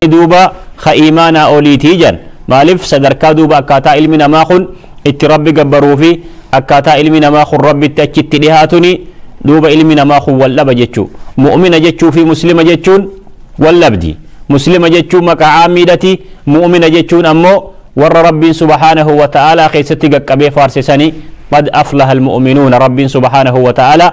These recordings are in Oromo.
Iimaanni duuba ka iimaanaa oliiti jedhan. Maaliif sadarkaa duuba akkaataa ilmi namaa kun itti Rabbi gabbaruu fi akkaataa ilmi namaa kun Rabbitti achi itti dhihaatuni duuba ilmi namaa kun wal dhaba jechuu. Mu'umina jechuu fi Muslima jechuun wal dhabdi. Muslima jechuun maqaa aammiidhati, mu'umina jechuun ammoo warra Rabbiin subhaanahu wa ta'aalaa keessatti gaqqabee faarse sani, Qad aflahal mu'uminuuna Rabbiin subhaanahu wa ta'aalaa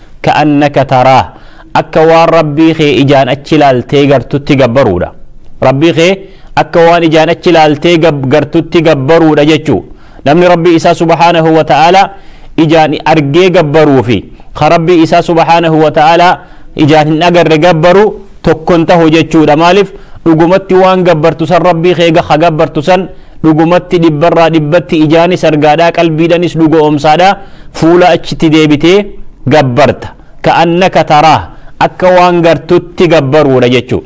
ka'annaka taraah akka waan Rabbii kee ijaan achi laaltee gartutti gabbaruudha. Rabbii kee akka waan ijaan achi laaltee gartutti gabbaruudha jechuu. Namni Rabbii isaa subhaanahu wa ta'aalaa ijaan argee gabbaruu fi ka Rabbii isaa subhaanahu wa ta'aalaa ijaan hin agarre gabbaru tokkon tahu jechuudha. Maaliif dhugumatti waan gabbartu san Rabbii kee gaha gabbartu san dhugumatti dhibbarraa dhibbatti ijaanis argaadhaa qalbiidhanis dhugo'oomsaadhaa. Fuula achitti deebitee gabbarta. Ka'annaka taraah, akka waan gartutti gabbaruudha jechuu.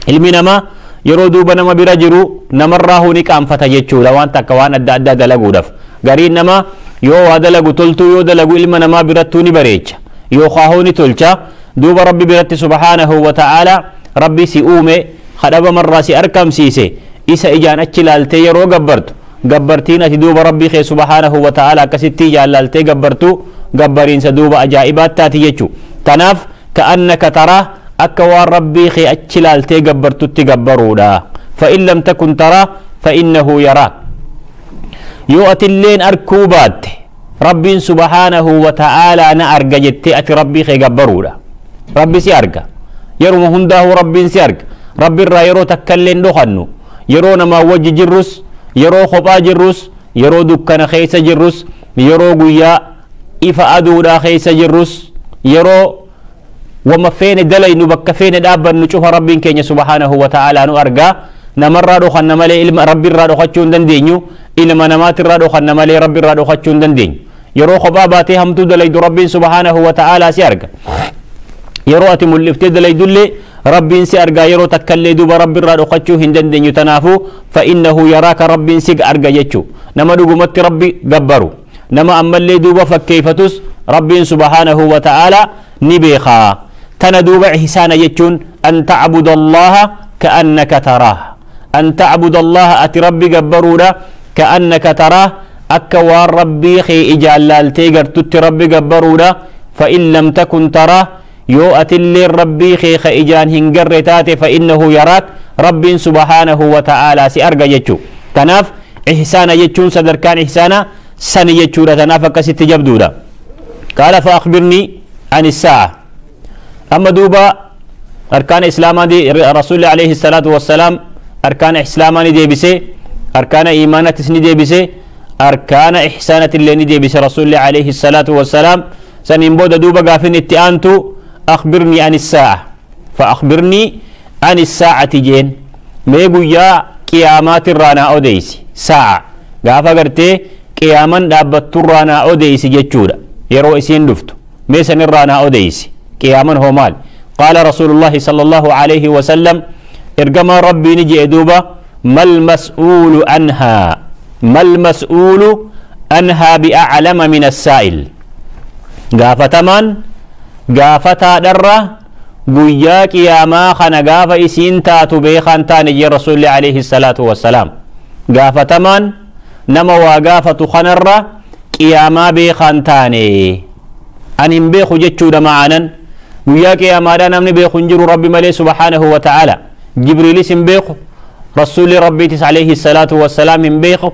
Ilmi namaa yeroo duuba nama bira jiru namarraahuu ni qaanfata jechuudha waan takka waan adda addaa dalaguudhaf. Gariin namaa yoo waa dalagu toltuu yoo dalagu ilma namaa birattuu ni bareecha. Yookaahuu ni tolcha. Duuba Rabbi biratti subhaanahu wa ta'aalaa Rabbi si uume, ka dhabamarraa si arkamsiise, isa ijaan achi laaltee yeroo gabbartu, Gabbartiin ati duuba Rabbii kee subhaanahu wa ta'aalaa akkasittii jaallaaltee gabbartu gabbariinsa duuba ajaa'ibaa taati jechu. Tanaaf ka'annaka taraah akka waan Rabbii kee achi laaltee gabbartutti gabbaruudha. Fa'in lam takun taraah fa'innahu yaraak. Yoo atilleen arkuu baatte Rabbiin subhaanahu wa ta'aalaa na arga jettee ati Rabbii kee gabbaruudha. Rabbi si arga. Yeruma hundaahuu Rabbiin si arga. Rabbi irraa yeroo takkallee hin dhokannu. Yeroo namaa wajji jirrus, yeroo kophaa jirrus, yeroo dukkana keessa jirrus, yeroo guyyaa ifa aduudhaa keessa jirrus, yeroo wama feene dalaynu bakka feene dhaabbannu cufa Rabbiin keenya subhaanahu wa ta'aalaa nu arga. Namarraa dhokanna malee ilma Rabbirraa dhokachuu hin dandeenyu. Ilma namaatirraa dhokanna malee Rabbirraa dhokachuu hin dandeenyu. Yeroo kophaa baatee hamtuu dalaydu Rabbiin subhaanahu wa ta'aalaa si arga. Yeroo ati mul'iftee dalaydullee Rabbiin si argaa yeroo takkallee duuba Rabbirraa dhokachuu hin dandeenyu tanaafu fa'innahu yaraaka Rabbiin sig arga jechu nama dhugumatti Rabbi gabbaru nama ammallee duuba fakkeeyfatus Rabbiin subhaanahu wa ta'aalaa ni beeka tana duuba ihsaana jechuun an ta'buda Allaha ka'annaka taraah an ta'buda Allaha ati Rabbi gabbaruudha ka'annaka taraah akka waan Rabbii kee ijaan laaltee gartutti Rabbi gabbaruudha fa'in lam takun taraah Yoo atilleen Rabbii kee ka ijaan hin garre taate fa'innahu yaraak Rabbiin subhaanahu wa ta'aalaa si arga jechu. Tanaaf ihsaana jechuun sadarkaan ihsaana sani jechuudha tanaaf akkasitti jabduudha. Qaala fa'akhbirnii ani saa'a. Amma duuba arkaana islaamaa rasuulli alayhi salaatu wassalaam arkaana islaamaa ni deebise arkaana iimaanatis ni deebise arkaana ihsaanatillee ni deebise rasuulli alayhi salaatu wassalaam Saniin booda duuba gaafin itti aantu Akhbirnii ani saa'a. Fa akhbirnii ani saa'ati jeen. Mee guyyaa qiyaamaatirraa naa odeeysi. Saa'a. Gaafa gartee qiyaaman dhaabbatturraa naa odeeysi jechuudha. Yeroo isiin dhuftu. Mee sanirraa naa odeeysi. Qiyaaman hoo maali? Qaala Rasuulullaahi sallallahu aleyhi wa sallam Ergamaan Rabbii ni je'e duuba Mal mas'uulu anhaa Mal mas'uulu anhaa bi'aclama mina saa'il. gaafatamaan gaafataadharra guyyaa qiyaamaa kana gaafa isiin taatu beekaan taane jee rasuulli alayhi salaatu wassalaam gaafatamaan nama waa gaafatu kanarra qiyaamaa beekaan taane ani hin beeku jechuudha ma'aanan guyyaa qiyaamaadhaa namni beeku hin jiru rabbi malee subhaanahu wa ta'aala jibriilis hin beeku rasuulli rabbiitis alayhi salaatu wassalaam hin beeku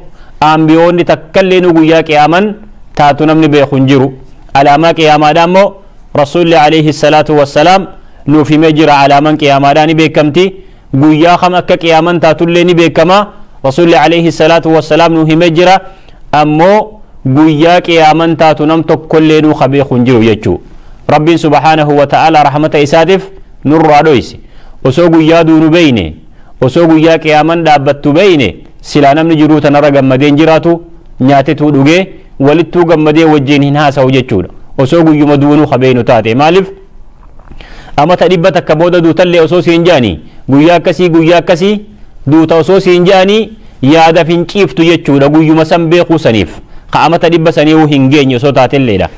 aanbiyoonni takkallee nu guyyaa qiyaaman taatu namni beeku hin jiru. Alaamaa qiyaamaadhaa immoo Rasuulli alayhi salaatu wassalaam nuuf himee jira alaaman qiyaamaadhaa ni beekamti. Guyyaa kam akka qiyaaman taatullee ni beekama. Rasuulli alayhi salaatu wassalaam nuuf himee jira. Ammoo guyyaa qiyaaman taatu nam tokkollee nuu ka beeku hin jiru jechuu. Rabbiin subhaanahu wa ta'aalaa rahmata isaatiif nurraa dhoyse. Osoo guyyaa duunu beeyne Osoo guyyaa qiyaaman dhaabbattu beeyne silaa namni jiruu tanarra gammadee hin jiraatu, nyaatetuu dhugee, walittuu gammadee wajjiin hin haasawu jechuudha. Osoo guyyuma duunu ka beeynu taate. Maalif? Amata dhibba takka booda duutallee osoo siin ja'anii, guyyaa akkasii guyyaa akkasii duuta osoo siin ja'anii yaadaf hin ciiftu jechuudha guyyuma san beekuu saniif. Ka amata dhibba saniihu hin geenye osoo taatelleedha.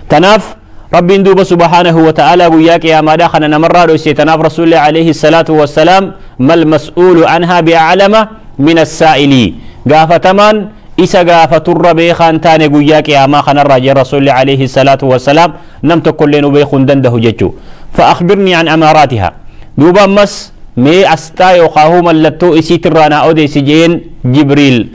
Tanaaf. Rabbiin duuba subhaanahu wa ta'aalaa guyyaa qiyaamaadhaa kana namarraa dhoyse tanaaf rasuulli alayhi salaatu wassalaam mal mas'uulu anhaa bi'aclama min assaa'ilii gaafatamaan isa gaafaturra beekaa hin taane guyyaa qiyaamaa kanarraa jee rasuulli alayhi salaatu wassalaam nam tokkollee nu beekuu hin dandahu jechuu fa'akbirnii an amaaraatiha duuba ammas mee asxaa yookaahuu mallattoo isiitirraa naa odeessi jeen jibriil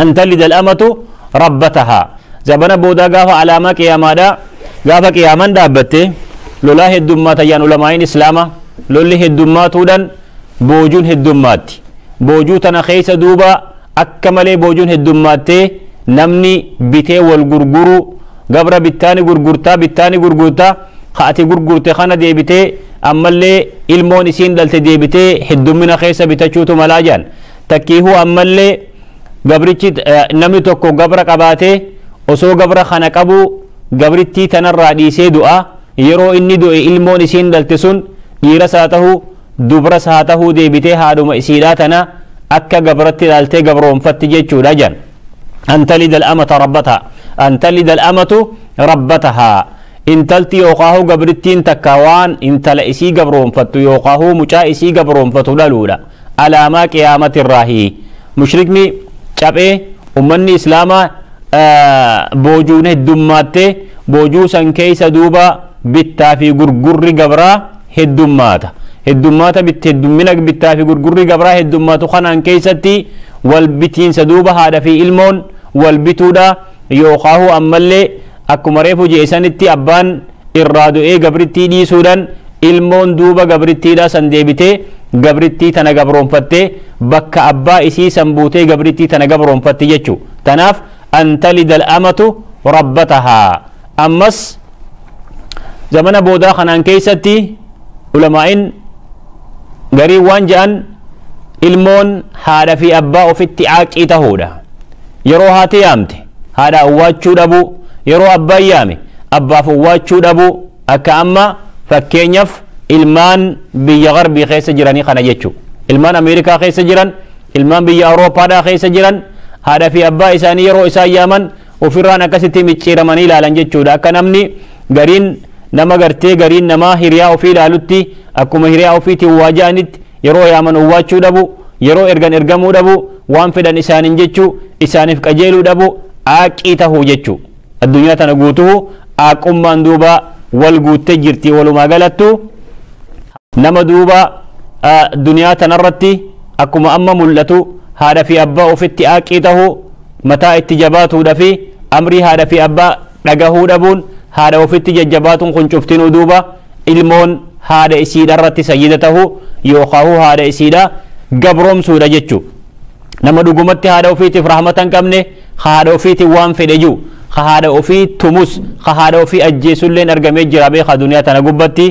an talida al'amatu rabbatahaa zabana boodaa gaafa alaamaa qiyaamaadha gaafa qiyaaman dhaabbatte lolaa heddummaata yaan ulamaa'iin islaama lolli heddummaatuudhan boojuun heddummaatti boojuu tana keessa duuba akka malee boojuun heddummaattee namni bitee wal gurguruu gabra bittaani gurgurtaa bittaani gurgurtaa ka ati gurgurte kana deebitee ammallee ilmoon isiin dhalte deebitee heddummina keessa bitachuutu malaa jaan Takkiihuu ammallee gabrichi namni tokko gabra qabaatee osoo gabra kana qabuu gabrittii tanarraa dhiisee du'a yeroo inni du'e ilmoon isiin dhalte sun dhiiras haa tahuu dubras haa tahuu deebitee haadhuma isiidhaa tana akka gabratti ilaaltee gabroomfatti jechuudha jedhan. An talida al-amata rabbataha an talida al-amatu rabbataha intalti yookaahuu gabrittiin takka waan intala isii gabroomfattu yookaahuu mucaa isii gabroomfatu dhaluudha. Alaamaa qiyaamati irraahi. Mushrikni caphee ummanni islaamaa boojuun heddummaatte boojuu san keessa duuba bittaa fi gurgurri gabraa heddummaata. Heddummaata heddummina bittaa fi gurgurri gabraa heddummaatu kanaan keessatti wal bitiinsa duuba haadha fi ilmoon wal bituudha yookaahuu ammallee akkuma reefu je'e sanitti abbaan irraa du'ee gabrittii dhiisuudhan ilmoon duuba gabrittiidhaa san deebitee gabrittii tana gabroonfattee bakka abbaa isii san buutee gabrittii tana gabroonfatti jechuu tanaaf an talida al'amatu rabbatahaa ammas zamana boodaa kanaan keeysatti ulamaa'in garii waan ja'an ilmoon haadha fi abbaa ofitti caaqii tahuudha yeroo haati yaamte Haadha owwaachuu dhabuu, Yeroo abbaan yaame abbaaf owwaachuu dhabuu akka amma fakkeenyaf ilmaan biyya garbii keessa jiranii kana jechu. Ilmaan Amerikaa keessa jiran, ilmaan biyya Awurooppaadhaa keessa jiran haadha fi abbaa isaanii yeroo isaan yaaman ofirraan akkasitti micciiramanii ilaalan jechuudha. Akka namni gariin nama gartee gariin namaa hiriyaa ofii ilaalutti akkuma hiriyaa ofiitiin waa ja'anitti yeroo yaaman owwaachuu dhabuu, yeroo ergan ergamuu dhabuu, Waan fedhan isaaniin jechuu, isaaniif qajeeluu dhabuu, aaqqii tahuu jechuu. Addunyaa tana guutuhu aaqqummaan duuba wal guutte jirti walumaa galattu. Nama duuba duniyaa tana irratti akkuma amma mul'atu haadha fi abbaa ofitti aaqqii tahuu, mataa itti jabaatuudha fi amrii haadha fi abbaa dhagahuu dhabuun haadha ofitti jajjabaatuun kun cuftinuu duuba ilmoon haadha isiidha irratti sayyida tahuu yookaahuu haadha isiidha gabroomsuudha jechu nama dhugumatti haadha ofiitiif rahmata hin qabne ka haadha ofiitiin waan fedhe jiru ka haadha ofii tumus ka haadha ofii ajjeesulleen argamee jira beekaa duniyaa tana gubbatti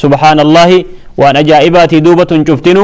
subhaanallahi waan ajaa'ibaatii duuba tun cuftinu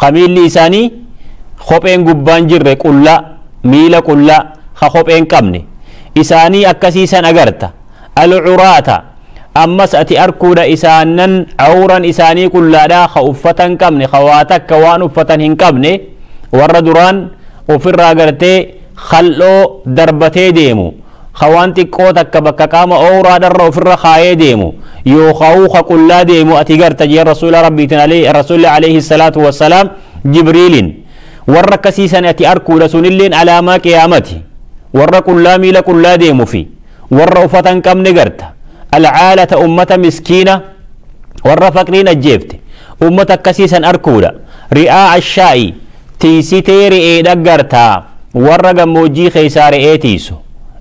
ka miilli isaanii kopheen gubbaan jirre qullaa, miila qullaa, ka kopheen qabne. Isaanii akkasii san agarta. Al-curaata, ammas ati arkuudha isaannan cawran isaanii qullaadhaa ka uffata hin qabne, ka waa takka waan uffatan hin qabne, warra duraan ufirraa gartee khal'oo darbatee deemu, ka waan xiqqoo takka bakka qaama owraadharra ofirra kaayee deemu, yookaawuu ka qullaa deemu ati garta jeen Rasuula Rabbiitin aleyh Rasuulli aleyhi salaatu wa salaam Jibriilin. Warra akkasii san ati arkuudha sunilleen alaamaa qiyaamati. Warra qullaa miila qullaa deemu fi warra ufata hin qabne garta. Alcaalata ummata miskiina warra faqriin ajjeefte ummata akkasii san arkuudha. Ri'aa ashaa'i tiysitee re'ee dhaggarta, warra gammoojjii keeysaa re'ee tiysu,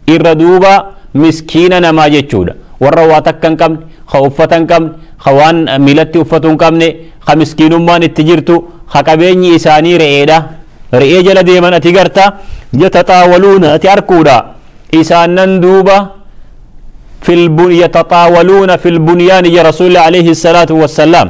irra duuba miskiina namaa jechuudha, warra waa takka hin qabne, ka uffata hin qabne, ka waan miilatti uffatu hin qabne, ka miskiinummaan itti jirtu, ka qabeenyi isaanii re'eedha, re'ee jala deeman ati garta, yataxaawaluuna ati arkuudha, isaannan duuba fil yataxaawaluuna fil bunyaani ja rasuulli aleyhi salaatu wassallaam.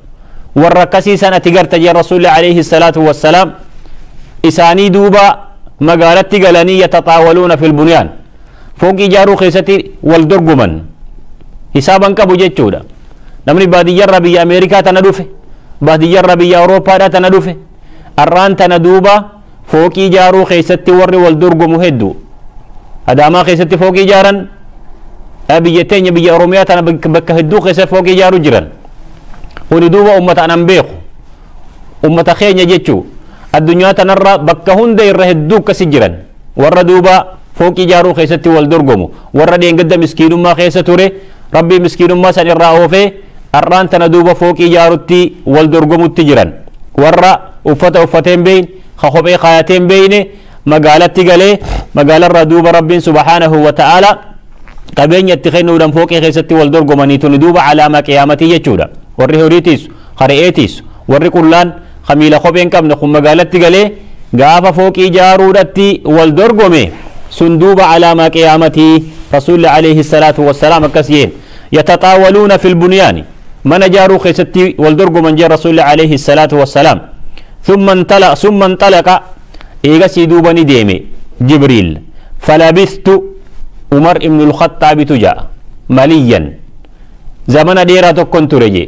warra akkasii san ati garta jee rasuulli alayhi salaatu wassalaam isaanii duuba magaalatti galanii yataxaawaluuna fil bunyaan fooqii ijaaruu keessatti wal dorgoman hisaaban qabu jechuudha namni baadiyyarra biyya ameerikaa tana dhufe baadiyyarra biyya awuroopaadha tana dhufe arraan tana duuba Fooqii ijaaruu keessatti warri wal dorgomu hedduu. Adaamaa keessatti fooqii ijaaran biyya teenya biyya Oromiyaa tana bakka hedduu keessatti fooqii ijaaruu jiran. Kuni duuba uummata anan beeku. Uummata keenya jechuu addunyaa tanarra bakka hunda irra hedduu akkasi jiran. Warra duuba fooqii ijaaruu keessatti wal dorgomu. Warra dheengadda miskiinummaa keessa ture Rabbii miskiinummaa san irraa oofee har'aan tana duuba fooqii ijaarutti wal dorgomutti jiran. Warra uffata uffatee hin beeyne, ka kophee kaayatee hin beeyne magaalatti galee magaalarraa duuba Rabbiin subhaanahu wa ta'aalaa qabeenya itti kennuudhaan fooqii keessatti wal dorgomanii tuni duuba alaamaa qiyaamatii jechuudha. Warri horii tiisu, ka re'ee tiisu, warri qullaan Ka miila kophee hin qabne kun magaalatti galee gaafa fooqii ijaaruudhatti wal dorgome sun duuba alaamaa qiyaamati rasuulli alayhi salaatu wassalaam akkas jeen yataxaawaluuna fil bunyaani mana ijaaruu keessatti wal dorgoman jeen rasuulli alayhi salaatu wassalaam thumma intala summa intalaqa eegasii duuba ni deeme jibriil falabistu umar ibnul khaxaabitu ja'a maliyyan zamana dheeraa tokkon ture jee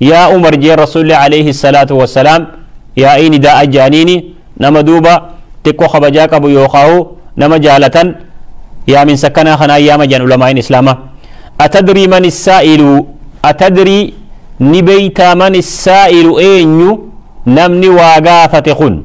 Yaa Umar jeen Rasuulli Aleeyhi salaatu wassalaam yaa'ii nidaa'a je'aniini nama duuba xiqqo kabajaa qabu yookaahu nama jaalatan yaaminsa akkanaa kanaan yaama je'an ulamaa'iin Islaamaa. Atadrii man issaa'ilu Atadrii ni beeytaa man issaa'ilu eenyu namni waa gaafate kun?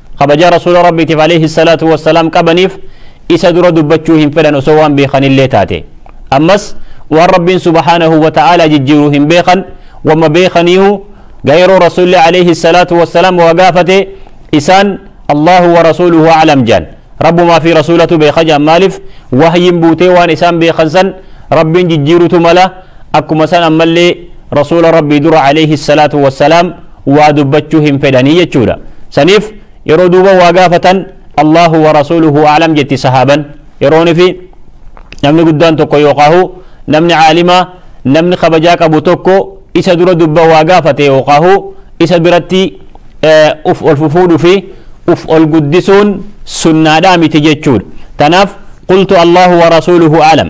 Kabajaa Rasuula Rabbiitiif aleyhi salaatu wassalaam qabaniif isa dura dubbachuu hin fedhan osoo waan beekanillee taate. Ammas waan Rabbiin subhaanahu wa ta'aalaa jijjiiru hin beekan, wamma beekaniihu ga yeroo Rasuulli aleyhi salaatu wassalaam waa gaafate isaan Allaahu wa rasuuluhu a'lam je'an. Rabbumaa fi Rasuulatu beeka je'an maalif wahyiin buutee waan isaan beekan san Rabbiin jijjiirutu mala, akkuma san ammallee Rasuula Rabbii dura aleyhi salaatu wassalaam waa dubbachuu hin fedhanii jechuudha saniif yeroo duuba waa gaafatan Allahu wa rasuluhu a'lam jetti sahaaban yeroon fi namni guddaan tokko yookaahu namni caalimaa namni kabajaa qabu tokko isa dura dubba waa gaafate yookaahu isa biratti uf ol fufuudhu fi uf ol guddisuun sunnaadhaa miti jechuudha tanaaf qultu Allahu wa rasuluhu a'lam